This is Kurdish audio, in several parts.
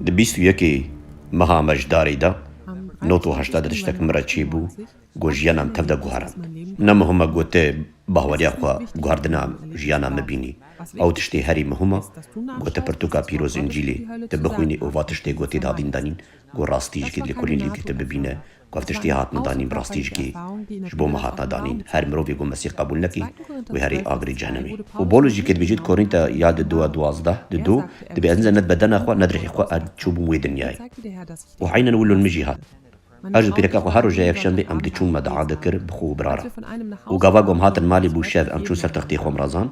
Di bîst û yekê meha mejdarê de not û heşta de tiştek min re çêbû ku jiyana min tev de guherand. Ne muhim e ku ti bahweriya xwe guherdina jiyana min bînî. Ew tiştê herî muhim e ku ti pirtûka pîroz Încîlê ti bixwînî û va tiştê ku tê dadîn danîn ku rastî ji kêt lêkolîn lîvkê te bibîne Ev tiştî hatine danîn bi rastî ji kê ji bo me hatine danîn. Her mirovê ku Mesîh qebûl neke, wê herê agirê cehennemê. Û Bolus jî kê dibêje di Korînta ya di dûa duwazdeh di do, dibê ez nizane di bedena xwe ne di rihê xwe ez çûbûm wê dinyayê. Û eynen wilo li min jî hat. Her ji pîreka xwe her roja yekşemdê em diçûn me diade kir bi xwe û bira re. Û gava ku em hatin malê bû şev em çûn ser textê xwe em razand.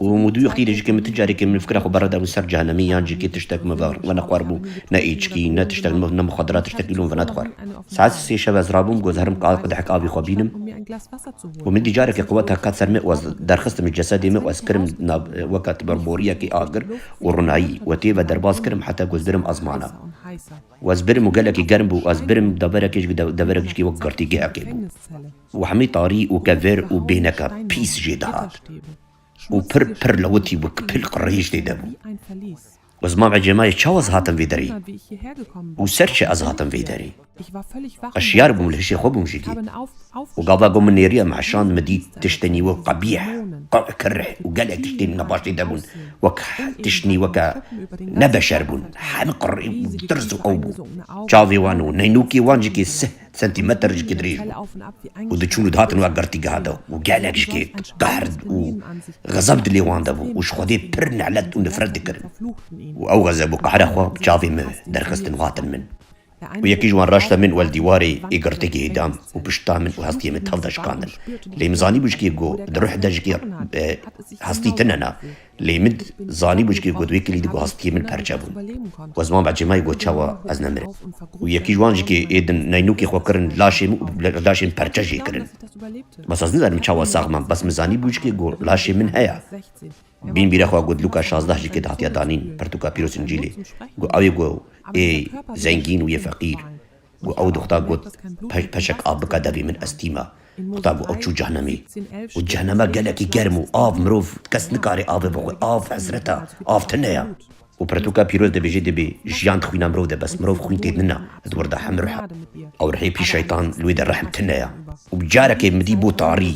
Û mûdûyê xîrê ji ke min ti carekê min fikra xwe berda min ser cehenemî yan ji kê tiştek min ve ve nexwar bû, ne êçikî, ne tiştek min ne muxaddirat tiştekî li min ve nexwar. Saet sê şev ez rabûm guhezerm ka qedehek avî xwe bînim û min dî careke qewet hat qat ser min û ez derxistim ji cesedê min û ez kirim nav weke ti ber boriyekê agir û rinayî û tê ve derbas kirim heta ku ez birim ezmana û ez birim û gelekî germ bû û ez birim deverekê ji deverek ji kê wek girtîgehekê bû. Û hemî tarî û kevêr û bêneke pîs jê dihat û pir pir lewitî û kipil qirreyîş tê de bû. Û ziman ve cêmayê çawa ez hatim vê derê û ser çi ez hatim vê derê. Ez şiyar bûm li hişê xwe bûm jigê û gava ku min nêriya me eşand min dît tiştê nîwek qebîh, qeq, kirr û gelek tiştên wina baş tê de bûn wek tişt nîweke ne beşer bûn. Hemî qirrî û tirs û ew bû. Çavê wan û neynûkê wan jikê sih. sentîmeter ji kê dirêj bû û diçûn û dihatin wek girtîgeha de û gelek ji kê qehr û xezeb di lê wan de bû û ji Xwedê pir nelet û nifret dikirin û ew xezeb û qehra xwe bi çavê min derxistin û hatin min û yekî ji wan raşta min wel dîwarê ê girtîgehê dan û pişta min û hestiyê min tev de şikandin lê min zanîbû ji kê ku di ruh de ji kê hestî tune na Lê min zanî bûçkê ku divê kilî di ku hestiyê min perçe bûn. We ziman be cêmayê ku çawa ez nemirim. Û yekî ji wan jî kê ê din neynûkê xwe kirin laşê min û bi laşê min perçe jê kirin. Bes ez nizanim çawa sax mam bes min zanî bûçkê ku laşê min heye. Bîn bîra xwe ku di lûka şazdeh jî kê dihatiya danîn pirtûka pîroz Încîlê ku ewê ku ê zengîn û yê feqîr. Ku ew dixwta got, Peşek av bike devê min ez tîme. Dixwta ku ew çû cehnemê. Û cehneme gelekî germ û av mirov kes nikare avê bixwe. Av hesret e. Av tune ye. Ku pirtûka pîroz dibêje divê jiyan di xwîna mirov de bes mirov xwîn tê nina di wir de heme ruh e. Ew rihê pî şeytan li wê de rehm tune ye. Û bi carekê midî bo tarî.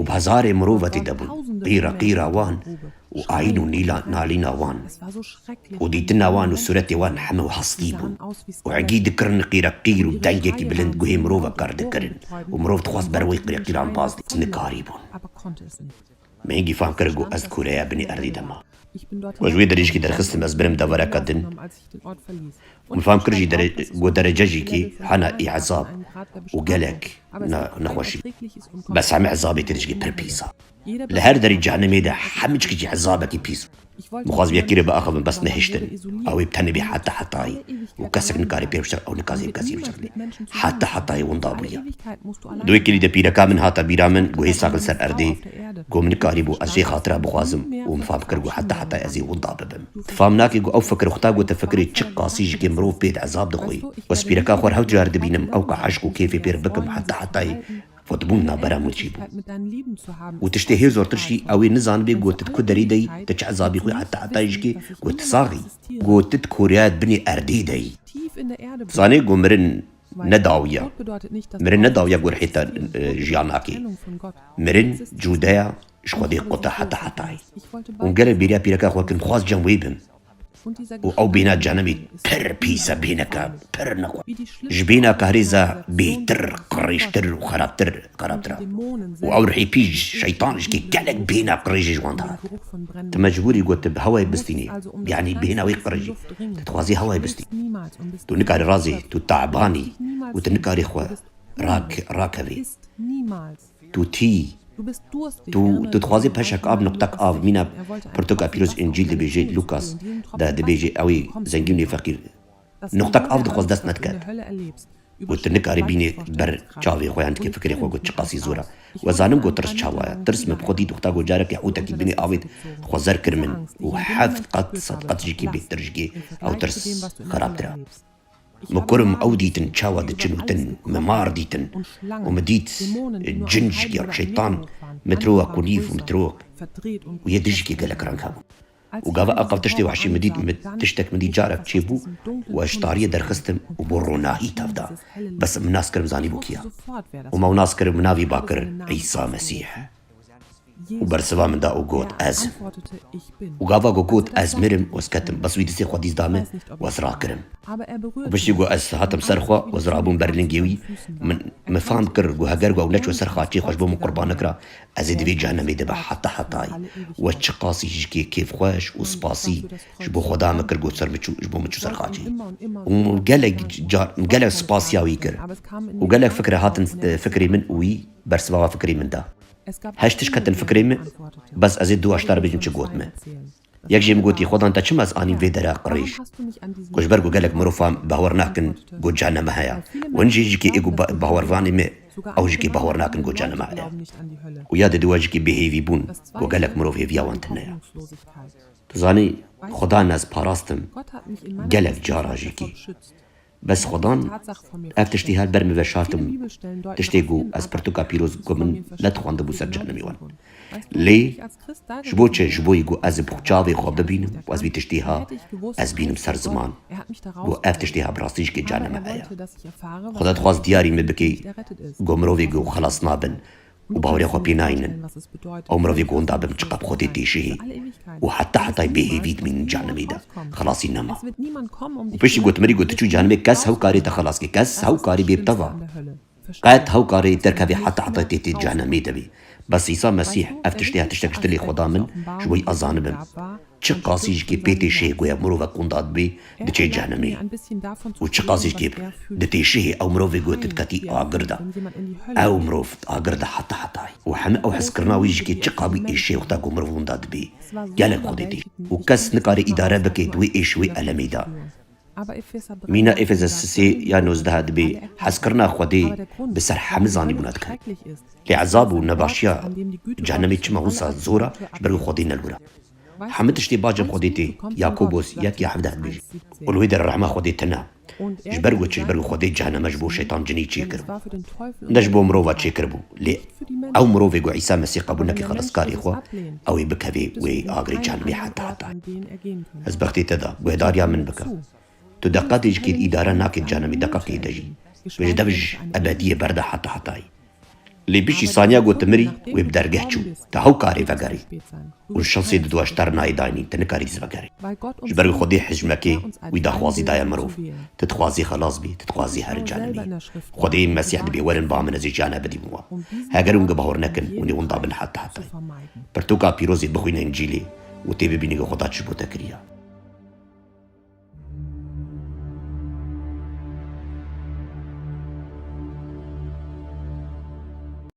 Û bazarê mirovetî de bûn, qîra qîra wan û ayîn û nîla nalîna wan û dîtina wan û sûretê wan heme û hestî bûn û egî dikirin qîra qîr û dengekî bilind guhê mirov e kar dikirin û mirov dixwest ber wê qîra qîran baz bê, nikarîbûn. Min gîfan kir ku ez kûreya binî erdê de ma. Min ji wê derêjikê derxistim ez birim devereka din û min fam kir jî ku derecejîkê hena ê ezab û gelek nexweşî. Bes hemî ezabê tê dijî pir pîs a. Li her derî cehenimê de hemî çikî jî ezabekî pîs bû. Dixwazim yekî rê biaxivim bes nehiştin. Ew ê bi tenê bê heta hetayî û kesek nikare pê hiştin ew nikazê bi kesî hiştinê. Heta hetayî winda bûye. Di wê kilîdê pîreka min hata bîra min ku hê sar bin ser erdê, ku min nikarîbû ez jê xatira bixwazim û min fam kir ku heta hetayî ez ê winda bibim. Tu fam nakî ku ew fikir xuda gote fikirê çi qasî ji kê mirov pê di ezab dixwî. Ez pîreka xwe her du car dibînim ew ka eşq û kêfê pê re bikim heta hetayî Xwe dibûn navbera min çî bû û tiştê hê zortir jî ew ê nizanibê ku tu di ku derî de yî, tu çi hesabî xwe heta etayê jikê ku tu sax î, ku tu di koreya di binê erdê de yî. Tu zanî ku mirin ne dawiya, mirin ne dawiya ku rihê te jiyan nake. Mirin cudeya ji Xwedê qute heta etayê. Hûn gelek bêriya pîreka xwe kin, xwest cem wê bin. û ew bîna canimî pir pîs e, bîneke pir nixwe. Ji bîna Kahrîz e bêtir, qirêjtir û xerabtir, xerabtir e. Û ew rihî pîj, şeytan jikê gelek bîna qirêjî ji wan dihat. Tu mecbûrî ku tu bi hewayê bistînî, yanî bîna wê qirêjî. Tu dixwazî hewayê bistîn. Tu nikarî razî, tu taban î û tu nikarî xwe rakevî. Tu tî. Tu tu dixwazî peşek av nuqtek av mîna pirtoka pîroz Încîl dibêje Lûkas de dibêje ew ê zengîn û feqîr nuqtek av dixwaz dest nedike û tu nikarî bînî ber çavê xwe yan dikê fikirê xwe ku çiqasî zor e we zanim ku tirs çawa ye tirs min bi xwe dît uxta ku carekê hûtekî binê avêt xwe zer kir min û heft qat sed qat jikî bêhtir jikê ew tirs xerabtir e. Min kurm ew dîtin çawa diçin û tin, min mar dîtin û min dît cin ji ya şeytan metroa ku nîv metroa ku yê dijikê gelek reng hebû û gava aqil tiştê wehşî min dît, min tiştek min dît carek çêbû û ez ji tariyê derxistim û bo ronahî tev da, bes min nas kir min zanîbû kî ya û me nas kir min navê Bakir Îsa Mesîh e. û bersiva min da û got ez im. Û gava ku got ez mirim wez ketim bes wî dizê xwe dîs da min û ez rakirim. Û piştî ku ez hatim ser xwe û ez rabûm ber lingê wî, min min fam kir ku heger ku ew neçû ser xaçê xwe ji bo min qurban nekira, ez ê di vê cehenemê de be heta hetayê. Û ez çiqasî jikê kêfxweş û spasî ji bo Xweda min kir got ser min çû ji bo min çû ser xaçê. Û min gelek car gelek spasiya wî kir. Û gelek fikir hatin fikirê min û wî. Bersivava fikirî min da. Heşt tişt ketin fikirê min, bes ezê du eştar bêjim çi got min. Yek jê min gotî Xwedan te çima ez anîm vê dere qirêj. Ku ji ber ku gelek mirovan bawer nakin ku caneme heye. Win jî jikê ê ku bawervanê me ew jikê bawer nakin ku caneme heye. Ku ya dide we jikê bêhêvîbûn ku gelek mirov hêviya wan tune ye. Tu zanî Xwedan ez parastim gelek caran jikê. Bes xwedan ev tiştî her ber min veşartibû, tiştê ku ez pirtûka pîroz ku min nedixwandibû ser cehennemê wan. Lê ji bo çi? Ji boî ku ez bi çavê xwe bibînim ku ez vî tiştî ha ez bînim ser ziman ku ev tiştê ha bi rastî jikê cehennemê heye. Xweda dixwast diyarî min bikî ku mirovê ku xelas nabin Bi bawerê xwe pê nayînin. Ew mirovê gonda bin çiqe bi Xwedê tê jihê û heta hetayê bêhêvî dimînin cehenimê de, xilasî nema. Û piştî gotimirî got çû cehenimê kes hew karê te xilas ke, kes hew karî bê bi te va. Qet hew karê derkevê heta hetayê tê tê cehenimê de bê. Bes Îsa Mesîh ev tiştê ev tiştek ji dilê xwe da min ji bo yê ez zanibim. Çi qasî ji kê pê tê şihê ku ya mirovek qûnda dibe diçe cehnimê û çi qasî ji kê di tê şihê ew mirovê ku di ketî agir de ew mirov di agir de heta hetayê û heme ew hezkirina wî ji kê çi qabî êşê wexta ku mirov wûnda dibe gelek xwedê tê û kes nikare îdare bike di wê êş û wê elemê de Mîna Efesesisê ya nozdeha dibê hezkirina Xwedê bi ser hemû zanî bûna dikare. Lê ezab û nebaşiya cehenemê çima wisa zor a ji ber ku Xwedê ne li wir a. Hemû tiştê bacên Xwedê tê, Yakobos yek ya hevdeh dibêje. Û li wê de rehma Xwedê tune ye. Ji ber ku çi? Ji ber ku Xwedê ceheneme ji bo şetan cinî çêkiribû. Ne ji bo mirova çêkiribû, lê Ew mirovê ku Îsa Mesîh qebûl neke xelaskarê xwe, ew ê bikevê wê agirê cehenimê heta heta. Ez bextê te da, guhedariya min bike. Tu deqetê ji kêr îdare nakê di cehenimê deqetê de jî, tu ji dev ji ebediyê berde heta hetayê. Lê piştî saniya ku tu mirî, wê bi dergeh çû, tu hewkarê vegerî. û şansê di duaştar nayê daynî, te nikarî zive gerî. Ji ber ku Xwedê hicmekê wî daxwazî daye mirov, ti dixwazî xelas bî, ti dixwazî herî cane bî. Xwedê ên Mesîh dibê werin ba min ez ê cane bidîm wan. Heger hûn gibahor nekin, hûnê winda bin heta hetayê. Pirtûka pîrozê bixwîne Încîlê û tê bibînî ku Xweda çi bo te kiriya.